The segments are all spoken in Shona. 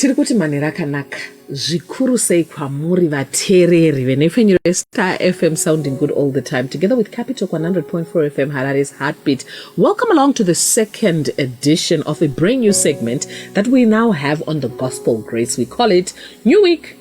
tiri kuti manhero akanaka zvikuru sei kwamuri vateereri venhepfenyuro yestar fm sounding good all the time together with capital 100.4 fm harare's heartbeat welcome along to the second edition of a brand new segment that we now have on the gospel grace we call it new week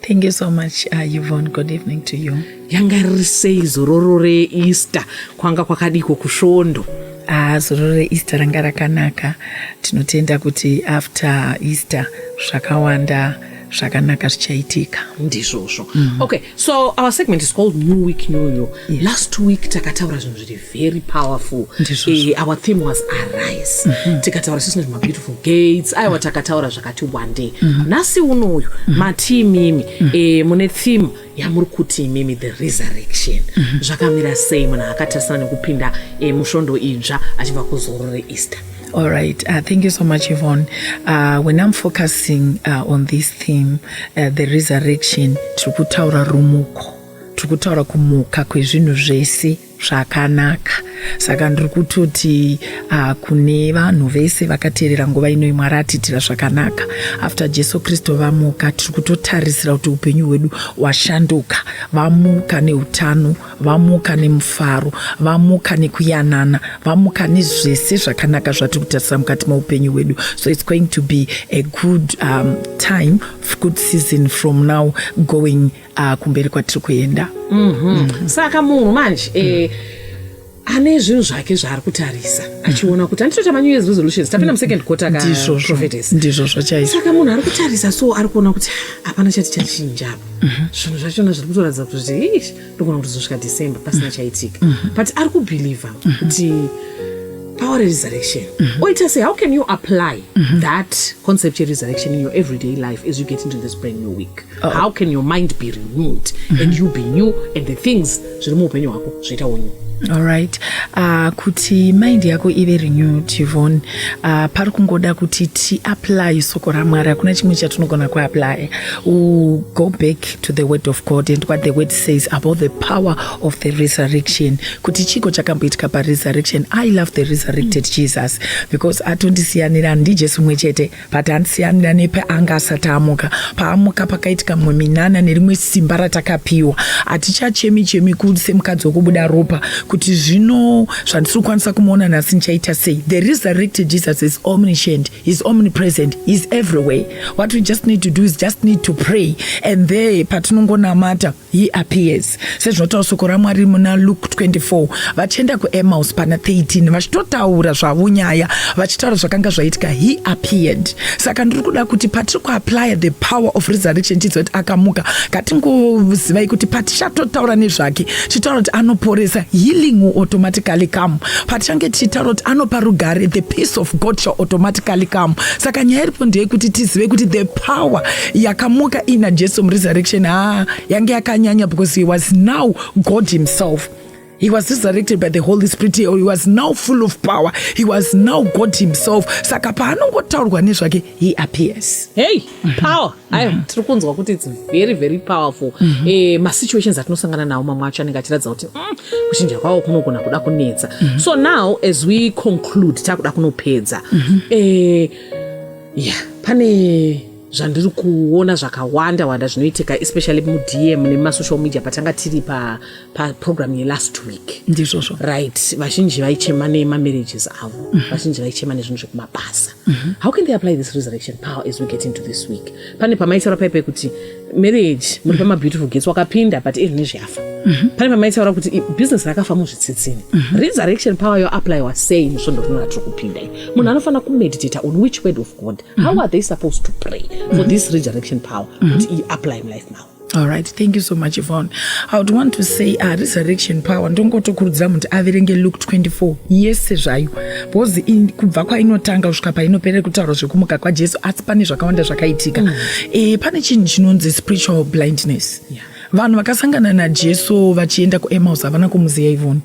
Thank you so much, uh, Yvonne. Good evening to you. Yanga riri sei zororo reEaster kwanga kwakadiko kusvondo? Ah, zororo reEaster ranga rakanaka. Tinotenda kuti after Easter zvakawanda zvakanaka zvichaitika ndizvozvo mm -hmm. okay so our segment is called new week new you yes. last week takataura zvinhu zviri very powerful uh, our theme was arise mm -hmm. tikataura sisi nezvema beautiful gates aiwa takataura zvakati wande mm -hmm. nhasi uno uyu mm -hmm. mati imimi mm -hmm. uh, mune theme yamuri kuti imimi the resurrection mm -hmm. zvakamira sei munhu akatarisana nekupinda uh, musvondo idzva achibva kuzoro reeaster All right. Uh, thank you so much, Yvonne. Uh, when I'm focusing uh, on this theme, uh, the resurrection, tiri kutaura rumuko, tiri kutaura kumuka kwezvinhu zvese zvakanaka saka ndiri kutoti uh, kune vanhu vese vakateerera nguva inoi mwari atiitira zvakanaka after jesu kristu vamuka tiri kutotarisira kuti upenyu hwedu washanduka vamuka neutano vamuka nemufaro vamuka nekuyanana vamuka nezvese zvakanaka zvatiri kutarisira mukati meupenyu hwedu so its going to be a good um, time good season from now going ah, kumberi kwatiri kuenda mm-hmm. saka munhu manje eh, ane zvinhu zvake zvaari kutarisa achiona kuti anditoita manew years resolutions tapinda musecond quarter kandizvozvondizvozvo chaizvo saka munhu ari kutarisa so ari kuona kuti hapana chati chachinja apa mhm. zvinhu zvachona zviri kutoratidza kuti ish ndogona kutozosvika december pasina mhm. chaitika mhm. but ari kubhilivha kuti power resurrection oita sei how can you apply that concept yeresurrection in your everyday life as you get into this brand new week Uh-oh. how can your mind be renewed mm -hmm. and you be new and the things zviri muupenyu hwako zvoitawo new allright uh, kuti mind yako ive renewed yvon uh, pari kungoda kuti tiapply soko ramwari hakuna chimwe chatinogona kuapply go back to the word of god and what the word says about the power of the resurrection kuti chiko chakamboitika paresurrection i love the resurrected mm. jesus because atondisiyanira ndijesu mwe chete but andisiyanira nepe anga asati amuka paamuka pakaitika mumwe minana nerimwe simba ratakapiwa hatichachemi chemi kuse mukadzi wekubuda ropa kuti zvino zvandisiri kukwanisa kumuona nhasi ndichaita sei the resurrected jesus is omniscient is omnipresent is everywhere what we just need to do is just need to pray and there patinongonamata He appears sezvinotaura soko raMwari muna Luke 24 vachienda kuEmaus pana 13 vachitotaura zvavo nyaya vachitaura zvakanga zvaitika he appeared. Saka ndiri kuda kuti patiri kuapply the power of resurrection tiziva kuti akamuka katingozivai kuti patichatotaura nezvake tichitaura kuti anoporesa healing will automatically come patichange tichitaura kuti anopa rugare the peace of God shall automatically come. Saka nyaya iripo ndeyekuti tizive kuti the power yakamuka ina jesu muresurrection haa ah, yange yakanyanya because he was now god himself He was resurrected by the Holy Spirit. He was now full of power. He was now God himself. Saka paanongotaurwa nezvake, he appears. Hey, power. Ayo, mm-hmm. tiri kunzwa kuti it's very very powerful. Mm-hmm. Eh, ma situations atinosangana nawo mamwe acho anenge achiratidza kuti mm, kuchinja kwawo kunogona kuda kunetsa. Mm-hmm. So now as we conclude takuda kunopedza. Eh, yeah, pane zvandiri kuona zvakawanda wanda zvinoitika especially mudm nemasocial media patanga tiri paprogram pa yelast week ndizvozvo right vazhinji vaichema nemamarriages avo mm -hmm. vazhinji vaichema nezvinhu zvekumabasa mm -hmm. how can they apply this resurrection power as we get into this week pane pamaitaura paipa kuti marriage muri pamabeautiful gates wakapinda but iri nezveyafa mm -hmm. pane pamaitaura kuti business rakafa muzvitsitsini mm -hmm. resurrection power yoapplywa sei musvondo rino ratiri kupinda munhu anofanira kumeditata on which word of god how are they supposed to pray for this resurrection power kuti iyi apply in life now All right, thank you so much, Yvonne. I would want to say uh, resurrection power ndongotokurudzira munhu averenge Luke 24 yese zvayo because in- kubva kwainotanga kusvika painoperera kutaura zvekumuka kwaJesu asi pane zvakawanda zvakaitika. Mm. E, pane chinhu chinonzi spiritual blindness. Yeah. Vanhu vakasangana naJesu vachienda kuEmmaus havana kumuziva Yvonne.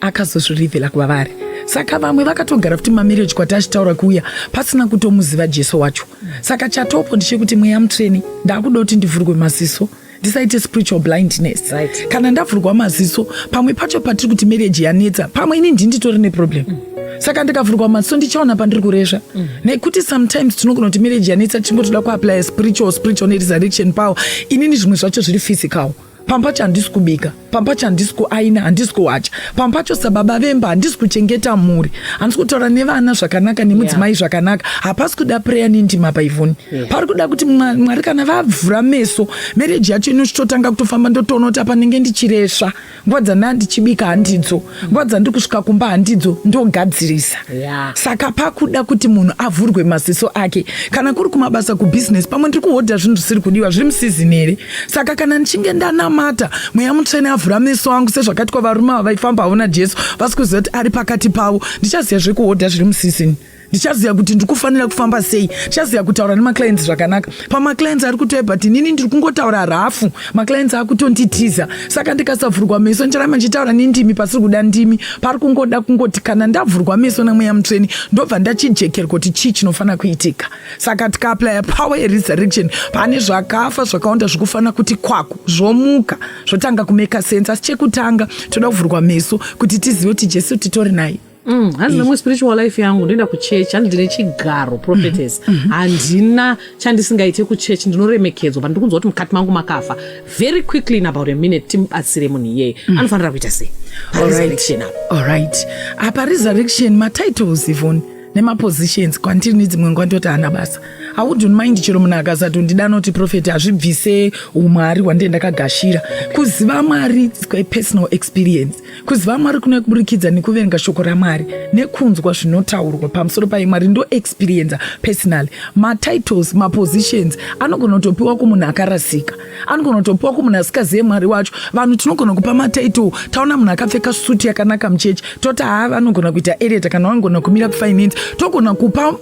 akazozvirivhela kuva vari saka vamwe vakatogara kuti mamarriage kwati achitaura kuuya pasina kutomuziva jesu wacho saka chatopo ndichekuti mweya mutsvene ndakuda kuti ndivhurwe maziso ndisaite spiritual blindness right. kana ndavhurwa maziso pamwe pacho patiri kuti marriage yanetsa pamwe ini ndii nditori neproblem mm. saka ndikavhurwa maziso ndichaona pandiri kuresva mm. nekuti sometimes tinogona kuti marriage yanetsa tichingotoda kuaplya spiritual spiritual neresurrection power inini zvimwe zvacho zviri physical mm. pamba pacho handisi kubika pamba pacho handisi kuaina handisi kuwacha pamba pacho sababa vemba handisi kuchengeta mhuri handisi kutaura nevana zvakanaka nemudzimai yeah. zvakanaka hapasi kuda preya nendima paivhoni yeah. pari kuda kuti mwari kana vavhura meso mereji yacho inochitotanga kutofamba ndotoona kuti apa ndenge ndichiresva nguva dzandaa ndichibika handidzo nguva dzandiri kusvika kumba handidzo ndogadzirisa yeah. saka pakuda kuti munhu avhurwe maziso ake kana kuri kumabasa kubhizinesi pamwe ndiri kuhodha zvinhu zvisiri kudiwa zviri musizini here saka kana ndichinge ndanamata mweya mutsvene avhura meso angu sezvakaitwa varume ava vaifamba havo najesu vasi kuziva kuti ari pakati pavo ndichaziva zvekuhodha zviri musizini ndichaziva kuti ndiri kufanira kufamba sei ndichaziva kutaura nemaclients zvakanaka pamaclients ari kutouya but inini ndiri kungotaura rafu maclients akutonditiza saka ndikasavhurwa meso ndicharamba ndichitaura nendimi pasiri kuda ndimi pari kungoda kungoti kana ndavhurwa meso nemweya mutsveni ndobva ndachijekerwa kuti chii chinofanira kuitika saka tikaaplya power yeresurrection pane zvakafa zvakawanda zvikufanira kuti kwaku zvomuka zvotanga kumeka sense asi chekutanga toda kuvhurwa meso kuti tizive kuti jesu titori naye Mm, hanzi nemwe spiritual life yangu ndoenda kuchurch hanzi ndine chigaro prophetess mm-hmm. Mm-hmm. handina chandisingaite kuchurch ndinoremekedzwa but ndikunzwa kuti mukati mangu makafa very quickly in about a minute timubatsire munhu iyeye mm. anofanira kuita sei allright apa resurrection matitles ivon nemapositions kwandiri nedzimwe nguva ndoti hana basa awundi unmind chero munhu akasati undida anoti profeti hazvibvise umwari hwandee ndakagashira kuziva mwari personal experience Kuziva Mwari kunouya kuburikidza nekuverenga shoko raMwari nekunzwa zvinotaurwa pamusoro paye Mwari ndo experienza personally. Matitles, mapositions anogona kutopiwa kumunhu akarasika, anogona kutopiwa kumunhu asikazive Mwari wacho. Vanhu tinogona kupa matitle, taona munhu akapfeka suti yakanaka muchechi toti haa vanogona kuita ereta kana vanogona kumira kufinance, togona kupa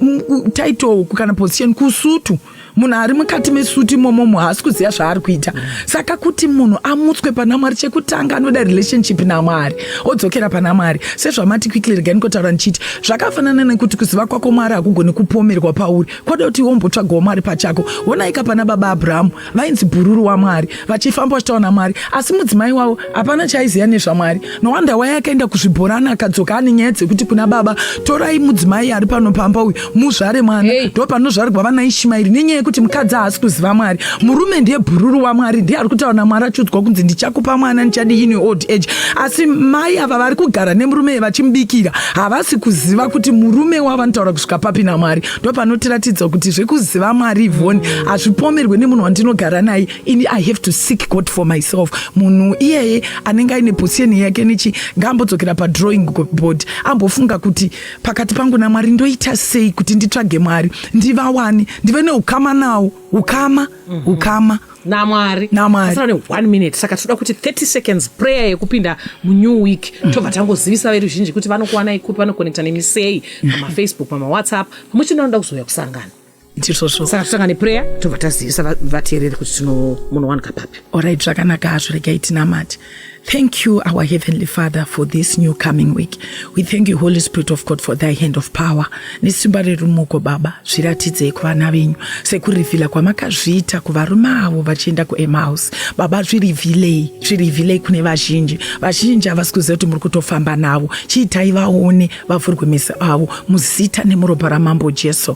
title kana position kusutu. munhu ari mukati mesuti imomomo haasi kuziva zvaari kuita saka kuti munhu amutswe pana mwari chekutanga anoda relationship namwari odzokera pana mwari sezvamati quickly regai nikotaura ndichiti zvakafanana nekuti kuziva kwako mwari hakugoni kupomerwa pauri kwada kuti wombotsvagawo mwari pachako wonaika pana baba abrahamu vainzi bhururu wamwari vachifamba vachitaura namwari asi mudzimai wavo hapana chaiziva nezvamwari nowanda waya akaenda kuzvibhorani akadzoka ane nyaya dzekuti kuna baba torai mudzimai ari pano pamba uyu muzvare mwana ndo panozvarigwa vana ishimairi nenyaya yekuti mukadzi haasi kuziva mwari murume ndiye bhururu wamwari ndiye ari kutaura namwari achiudzwa kunzi ndichakupa mwana ndichadi ini old age asi mai ava vari kugara nemurume vachimubikira havasi kuziva kuti murume wavo anotaura kusvika papi namwari ndopanotiratidza kuti zvekuziva mwari ivoni mm. hazvipomerwe nemunhu wandinogara naye ini i have to seek god for myself munhu iyeye anenge aine position yake nechi ngaambodzokera padrawing board ambofunga kuti pakati pangu namwari ndoita sei kuti nditsvage mwari ndivawani ndive neukama nawo ukama mm-hmm. ukama mm -hmm. namwari asina ne one minute saka tinoda kuti 30 seconds prayer yekupinda munew week mm. tobva tangozivisa veruzhinji kuti vanokuwanai kupi vanokonekta nemisei mm. pamafacebook pamawhatsapp pamwe chete vanoda kuzouya kusangana saka totanga neprayer tobva tazivisa vateereri kuti tinomunowanika papi orit zvakanaka hazvo regai tinamati Thank you, our Heavenly Father, for this new coming week. We thank you, Holy Spirit of God, for thy hand of power. Nesimba rerumuko Baba, zviratidzei kuvana venyu sekurivhila kwamakazviita kuvarume avo vachienda kuEmaus. Baba, zvirivhilei, zvirivhilei kune vazhinji. Vazhinji havasi kuziva kuti muri kutofamba navo. Chiitai vaone vavhurwe meso avo muzita nemuropa raMambo Jesu.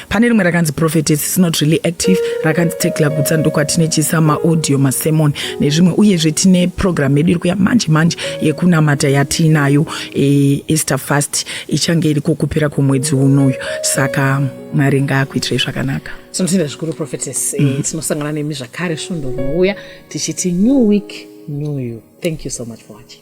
pane rimwe rakanzi prophetess is not really active rakanzi tekla gutsa ndokwatinechiisa maaudio masemon nezvimwe uyezve tine program yedu iri kuya manje manje yekunamata yatiinayo e, easter fast ichange iri kokupera kwomwedzi unoyu saka mwari ngaakuitirei zvakanaka tinotenda zvikuru prophetess mm -hmm. tinosangana nemi zvakare svondo rinouya tichiti new week new you thank you so much for watching